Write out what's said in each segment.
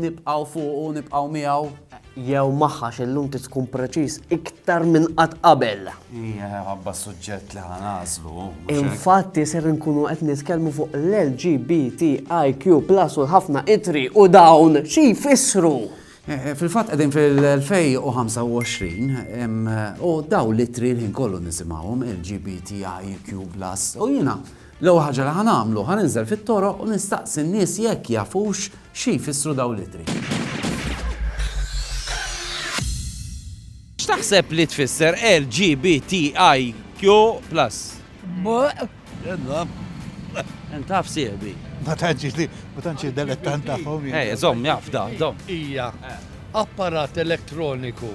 Nibqgħu fuqu, nibqgħu miegħu. Jew magħha x'illum trid tkun preċiż iktar minn qatt qabel. Hija ħabba suġġett li ħanażlu. Infatti ser nkunu qed nitkellmu fuq l-LGBTIQ plus u ħafna itri u dawn xi jfissru. Eh, eh, fil-fatt qegħdin fil-2025 eh, u daw l-itri l-ħin kollu nisimgħuhom LGBTIQ plus u jiena L-ewwel ħaġa li ħa nagħmlu, ħa ninżel fit-toroq u nistaqsi n-nies jekk jafux xi jfissru dawn l-ittri. X'taħseb li tfisser LGBTIQ plus? Buq. Edna. Int taf sieħbi. Ma tantx li, ma tantx delettant tagħhom. Ej, żomm jaf da, żomm. Hija apparat elettroniku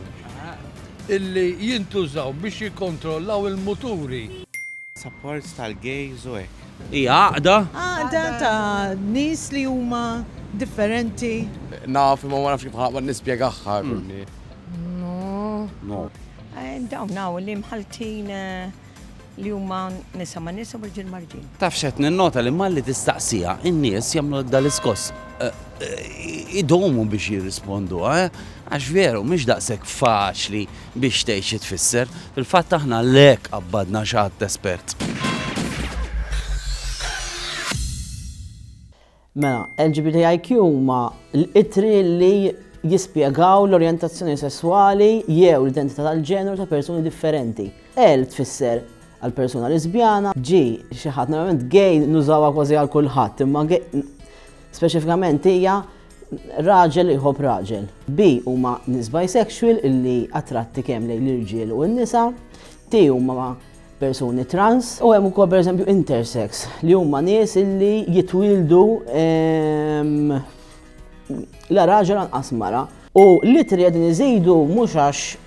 illi jintużaw biex jikkontrollaw il-muturi. Support tal-gays u hekk. Hija għaqda. Għaqda ta' nies li huma differenti. Naf imma ma nafx kif ħa nispjegahha. No. Dawn hawn li mħalltin li huma nisa ma' nisa u rġiel ma' rġiel. Taf x'qed ninnota li malli tistaqsiha in-nies jagħmlulek dal-iskoss. Idumu biex jirrisponduha għax veru mhix daqshekk faċli. biex tgħid xi tfisser. Fil-fatt aħna lhekk qabbadna xi għadd espert. Mela, LGBTIQ huma l-ittri li jispjegaw l-orjentazzjoni sesswali jew l-identità tal-ġeneru ta' persuni differenti. L tfisser għal persuna lesbjana, G xi ħadd normalment gay nużawha kważi għal kulħadd, imma speċifikament hija Raġel iħobb raġel. B huma nies bisexual illi attratti kemm lejn l-irġiel u n-nisa. T huma persuni trans. U hemm ukoll pereżempju intersex li huma nies illi jitwieldu la raġel anqas mara. U l-ittri qegħdin iżidu mhux għax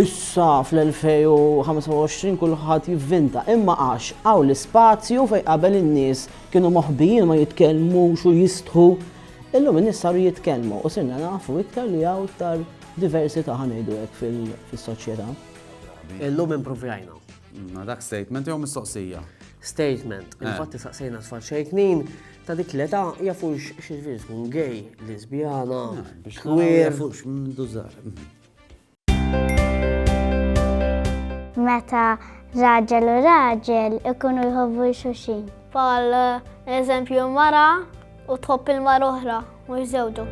Issa fl-2025 kulħadd jivvinta imma għax hawn l-ispazju fejn qabel in-nies kienu moħbijin ma jitkellmux u jistħu, illum in-nies saru jitkellmu u sirna nafu iktar li hawn iktar diversità ħa ngħidu hekk fis-soċjetà. Illum impruvjajna. Ma dak statement jew mistoqsija? Statement. Eh. Infatti saqsejna tfal xejknin ta' dik l-età jafux xi tkun gay, lesbjana, eh, queer. Jafux mdużar. Meta raġel u raġel ikunu jħobbu xuxin. Pal eżempju mara u tħobb il-mar oħra, mhux żewġu.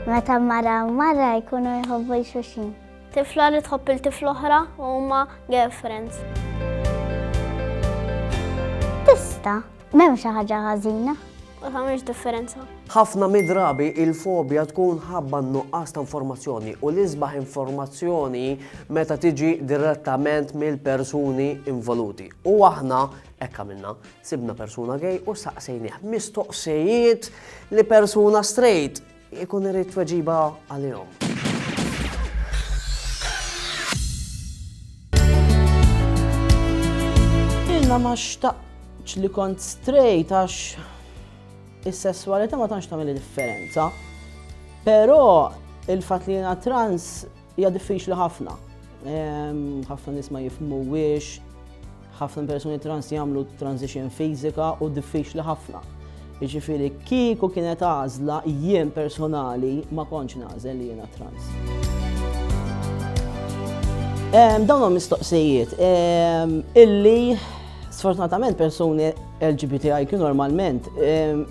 Meta mara u mara jkunu jħobbu xuxin. Tifla li tħobb il-tifla oħra u huma girlfriends. Tista, m'hemm xi ħaġa ħażina. Ma tagħmilx differenza. Ħafna midrabi il-fobja tkun ħabba nuqqas ta' informazzjoni u l-isbaħ informazzjoni meta tiġi direttament mill-persuni involuti. U aħna ekka minna, sibna persuna gej u saqsejnieh mistoqsijiet li persuna straight Ikun irid tweġiba għalihom. Jena ma xtaqx li kont straight għax is-sessualità ma tantx tagħmel differenza. Però il-fatt li jiena trans Hija diffiċli ħafna. Ħafna nies ma jifhmuwiex, ħafna persuni trans jagħmlu transition fiżika u diffiċli ħafna. Jiġifieri kieku kienet għażla jien personali ma kontx nażel li jiena trans. Dawn huma mistoqsijiet illi sfortunatament persuni LGBTIQ normalment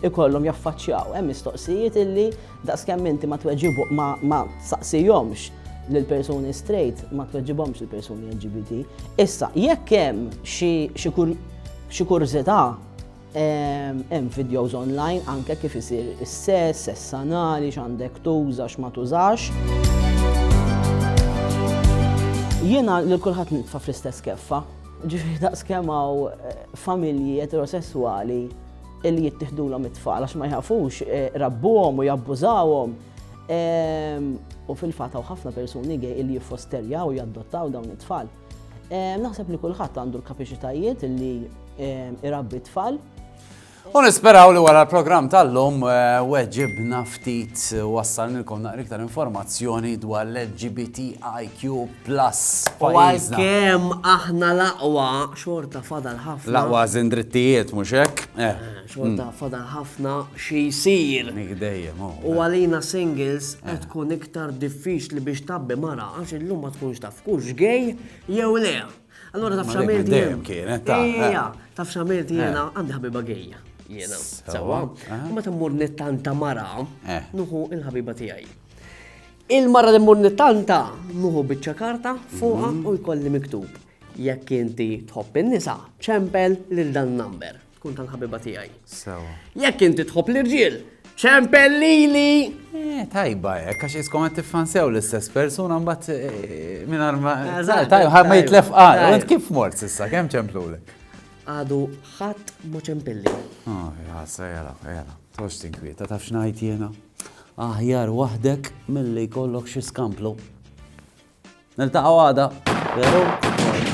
ikollhom jaffaċċjaw hemm mistoqsijiet illi Daqskemm inti ma tweġibu, ma, ma tsaqsihomx lill-persuni straight, ma tweġibhomx il-persuni LGBT. Issa, jekk hemm xi, xi kur, xi kurżità, ehm, hemm videos online anke kif isir is-sess, sess anali, x'għandek tuża, x'ma tużax. Jiena lil kulħadd nitfa' fl-istess keffa, ġifieri daqskemm hawn eh, familji eterosesswali li jittihdulhom it-tfal għax ma jħafux eh, rabbuhom u jabbużawhom. Ehm, u fil-fatt hawn ħafna persuni gej li jiffosterjaw u jaddottaw dawn it-tfal. Ehm, naħseb li kulħadd għandu l-kapaċitajiet li ehm, irabbi t-tfal. U nisperaw li wara l-programm tal-lum eh, weġibna ftit eh, wassal nilkom naqri iktar informazzjoni dwar l-LGBTIQ plus. U għal-kem aħna laqwa Xorta fadal ħafna. L-aqwa għażin drittijiet, mhux hekk? Eh. Xorta fadal ħafna xi jsir. Nik dejjem, oh. U għalina singles qed tkun iktar diffiċli biex tabbi mara għax illum ma tkunx taf kux gej jew le. Allora taf xamilti. Dejjem kienet ta'. Ija, taf xamilti jiena għandi ħabiba gejja. Jiena. Sawa. Ma tammur nittanta mara, nuħu il-ħabiba tiegħi. Il-mara li mmur nittanta, nuħu biċċa karta fuqha u jkolli miktub. Jekk inti tħobb in-nisa, ċempel lil dan number. Tkun tal-ħabiba tiegħi. Sewa. Jekk inti tħobb l-irġiel, ċempel lili! Eh, tajba, eh, għax iskom għed tiffansew l-istess persuna mbatt eh, minn arma. Tajba, ma jitlef għal, għed kif mort sissa, kem ċemplulek? Għadu ħadd ma ċempilli. Oh, jgħassa, jgħala, jgħala. Tox tinkwieta, taf xnajt jena? Aħjar waħdek milli jkollok xi skamplu. Niltaqgħu għada, veru?